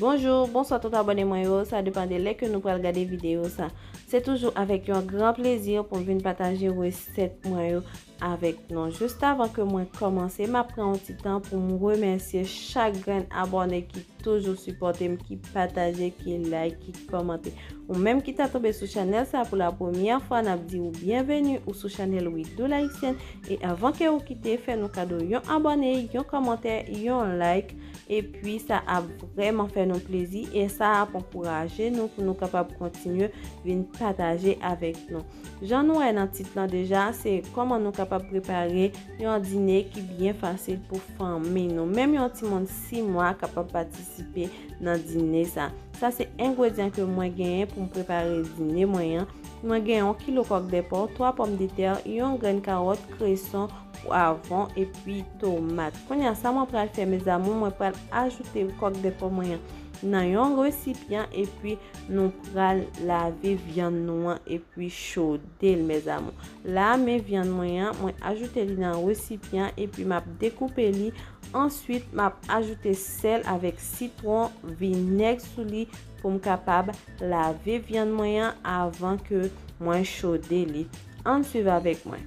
Bonjour, bonswa tout abone mwen yo, sa depan de lè ke nou pral gade video sa. Se toujou avèk yon gran plezi pou m vin pataje resèt mwen yo avèk nou. Just avan ke mwen kòmanse, m ap pran yon ti tan pou m remèsye chak grenn abone ki toujou sipòte m, ki pataje, ki like, ki kòmante. Ou menm ki ta tonbe sou chanèl sa pou la premyè fwa, n ap di ou byenveni ou sou chanèl Widoo L'Haïtienne. E avan ke ou kite, fè nou kado yon abone, yon kòmantè, yon like. epi sa ap vreman fè nou plezi e sa ap ankouraje nou pou nou kapab kontinye vin pataje avèk nou. Jan nou wè nan tit lan deja, se koman nou kapab prepare yon dine ki byen fasil pou fanmi nou. Menm yon ti moun 6 mwa kapab patisipe nan dine sa. Sa se engredyan ke mwen genyen pou m prepare dine mwen an. Mwen genyen yon kilo kòk de po, 3 pòm de tè, yon grenn kawòt, kreson, pwavon epi tomat konya sa mwen pral fè mes amour mwen pral ajoute kòk de pò mwen nan yon resipyan epi nou pral lave vyann nou an epi chode l mes amour la men vyann mwen an mwen ajoute li nan resipyan epi map dekoupe li answit map ajoute sèl avèk sitwon vinèg sou li pou m kapab lave vyann mwen an avan ke mwen chode li ann swiv avèk mwen.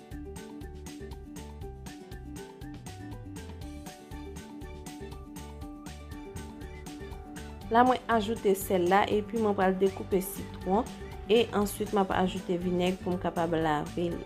La mwen ajoute sèl la epi mwen pral dekoupe sitwon e answit map ajoute vinèg pou m kapab lave li.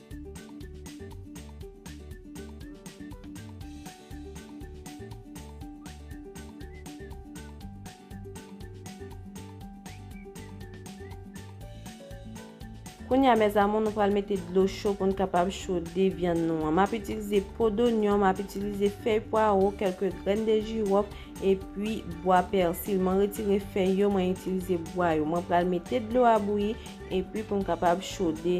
Kounye a mes amour nou pral mete dlo cho pou n kapab chode vyann nou an. M ap itilize po donyon, m ap itilize fèy pwaro, kelke grenn de jirof, epi bwa pèsil. Mwen retire fèy yo, mwen itilize bwa yo. Mwen pral mete dlo a bouyi, epi pou n kapab chode.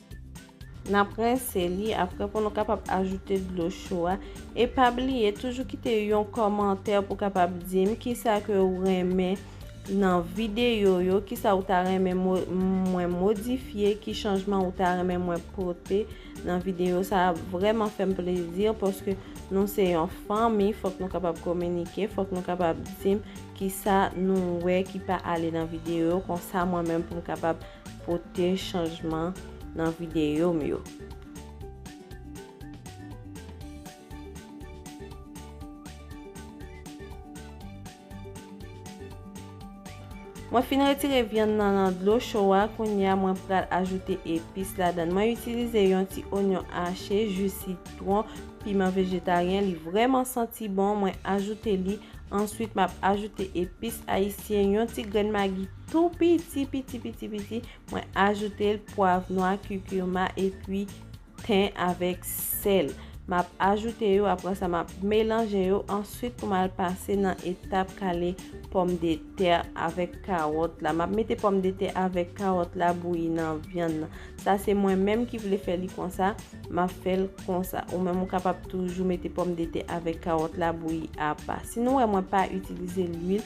Nap rense li apre pou nou kapab ajoute dlo cho a e pa bliye toujou kite yon kòmantè pou kapab di m kisa ke ou renmen nan videyo yo, kisa ou ta renmen mwen modifye, ki chanjman ou ta renmen mwen pote nan videyo sa ap vreman fèm plezi paske nou se yon fanmi fòk nou kapab kominike, fòk nou kapab di m kisa nou wè ki pa ale nan videyo konsa mwen menm pou m kapab. pote chanjman nan videyo m yo. Mwen fin retire vyann nan nan dlo cho a, kounye a mwen pral ajoute epis ladan. Mwen itilize yon ti onyon ache, ju sitwon, piman vejetaryen, li vreman santi bon, mwen ajoute li, answit map ajoute epis ayisyen, yon ti grenn magi. Tou piti piti piti piti mwen ajoute l pwav nwa, kikirma epi ten avèk sèl. M ap ajoute yo apre sa m ap melanje yo answit pou m al pase nan etap kale pòm de tè avèk kawòt la. M ap mete pòm de tè avèk kawòt la bouyi nan vyann nan. Sa se mwen menm ki vle fè li konsa, m ap fè l konsa. Ou menm ou kapab toujou mete pòm de tè avèk kawòt la bouyi apa. Si nou wè mwen pa itilize lwil.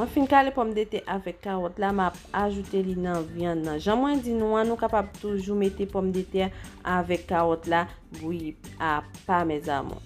Mwen fin kale pòmdetè avèk kawòt la, m ap ajoute li nan vyann nan. Jan mwen di nou an, nou kapab toujou mete pòmdetè avèk kawòt la bouyi a pa mes amour.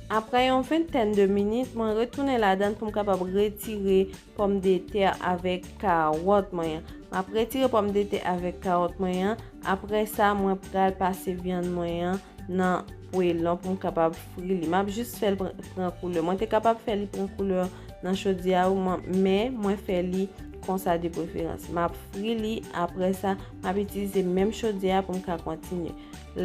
Aprè yon ventèn de minit, mwen retounen ladan pou m kapab retire pòm de tè avèk kawòt mwen an. M ap retire pòm de tè avèk kawòt mwen an. Aprè sa, mwen pral pase vyann mwen an nan pwelon pou m kapab fri li. M ap jis fè l pran koulè. Mwen te kapab fè li pran koulè nan chodyè a, men mwen fè li konsa de preferans. M ap fri li, aprè sa. M ap itilize menm chodyè a pou m ka kontinye.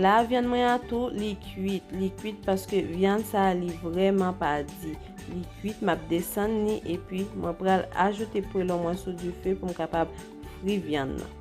La vyann mwen an tou li kuit, li kuit paske vyann sa li vreman pa di. Li kuit m ap desann ni epi mwen pral ajoute pwelon mwen sou dife pou m kapab fri vyann nan.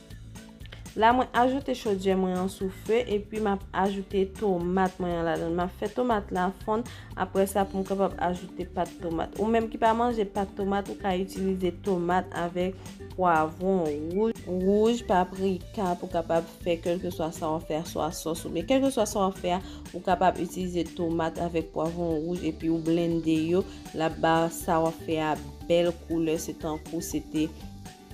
La mwen ajoute chodyè mwen an sou fe epi map ajoute tomat mwen an ladan. Map fe tomat la fon apre sa pou m kapab ajoute pat tomat. Ou menm ki pa manje pat tomat ou ka itilize tomat avek pwavon wouj, paprika pou kapab fe kelke swa sa wap fe a swa sos ou byen kelke swa sa wap fe a ou kapab itilize tomat avek pwavon wouj epi ou blende yo lap ba sa wap fe a bel koule se tankou se te.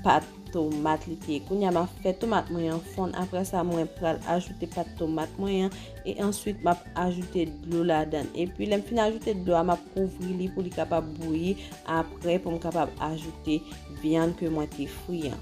pat tomat li te kounya map fè tomat mwen an fonn aprè sa mwen pral ajoute pat tomat mwen an e answit map ajoute dlo ladan epi lèm fin ajoute dlo a map kouvri li pou li kapab bouyi aprè pou m kapab ajoute vyann ke mwen te fri an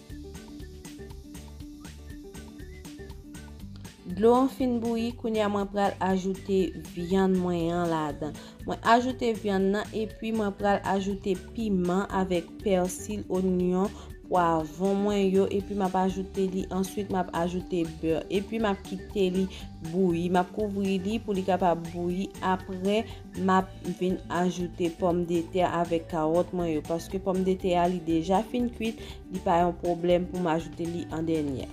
Dlo an fin bouyi, kounye a mwen pral ajoute vyann mwen an ladan. Mwen ajoute vyann nan epi mwen pral ajoute piman avèk pèsil, onyon, pwavon mwen yo epi m ap ajoute li. Answit m ap ajoute bè epi m ap kite li bouyi. M ap kouvri li pou li kapab bouyi apre. Map vin ajoute pòm de tè avèk kawòt mwen yo paske pòm de tè a li deja fin kuit li pa yon pwoblèm pou m ajoute li an dènyè.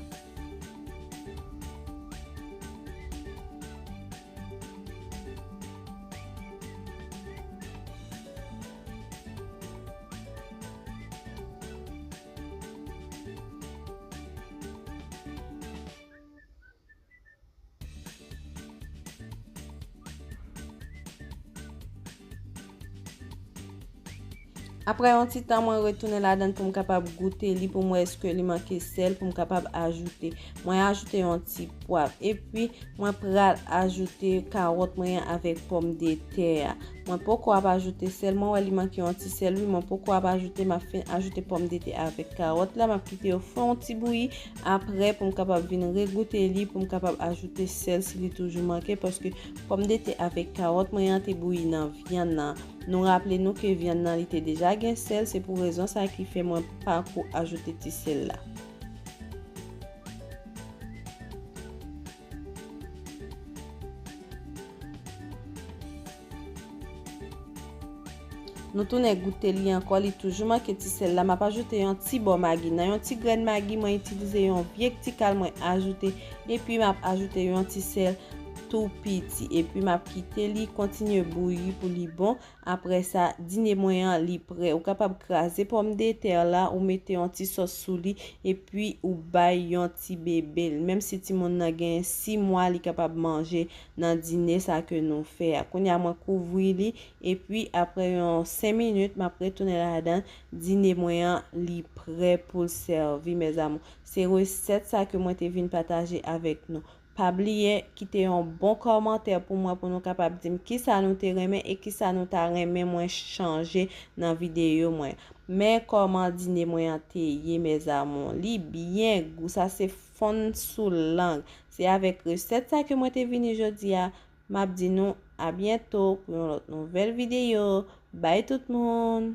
Aprè yon ti tan mwen retounen ladan pou m kapab goute li pou mwen eske li manke sel pou m kapab ajoute. Mwen ajoute yon ti pwav. E pi mwen pral ajoute kawòt mwen an avèk pòm de tè a. Mwen poko ap ajoute sel. Mwen wè li manke yon ti sel. Mwen poko ap ajoute. Mwen ajoute pòm de tè avèk kawòt la. Mwen ap kite yo fè yon ti bouyi. Aprè pou m kapab vin regoute li pou m kapab ajoute sèl si li toujou manke paske pòmdetè avèk kawòt mwen an te bouyi nan vyann nan. Nou raple nou ke vyann nan li te deja gen sèl se pou rezon sa ki fè mwen pa ko ajoute ti sèl la. Nou tounen goute li ankò, li toujou manke ti sèl la. M ap ajoute yon ti bò magi. Nan yon ti grenn magi, mwen itilize yon vye ktikal mwen ajoute. Epi m ap ajoute yon ti sèl tou piti. Epi m ap kite li kontinye bouyi pou li bon. Aprè sa, dine mwen an li prè. Ou kapab kraze pòm de tè la, ou mete yon ti sòs sou li, epi ou bay yon ti bebe l. Menm si timoun nan gen 6 mwa li kapab manje nan dine sa ke nou fè a. Kounye a mwen kouvri li, epi aprè yon 5 minit map retounen ladan l, dine mwen an li prè pou l sèvi mes amours. Se resèt sa ke mwen te vin pataje avèk nou. Pa bliye kite yon bon kòmantè pou mwen pou nou kapab dim kisa nou te renmen e kisa nou ta renmen mwen chanje nan videyo mwen. Men kòman dine mwen an te ye mes amours. Li byen gou sa se fonn sou lang. Se avèk resèt sa ke mwen te vini jodi a. Map di nou a byento pou yon lòt nouvèl videyo. Bye tout moun!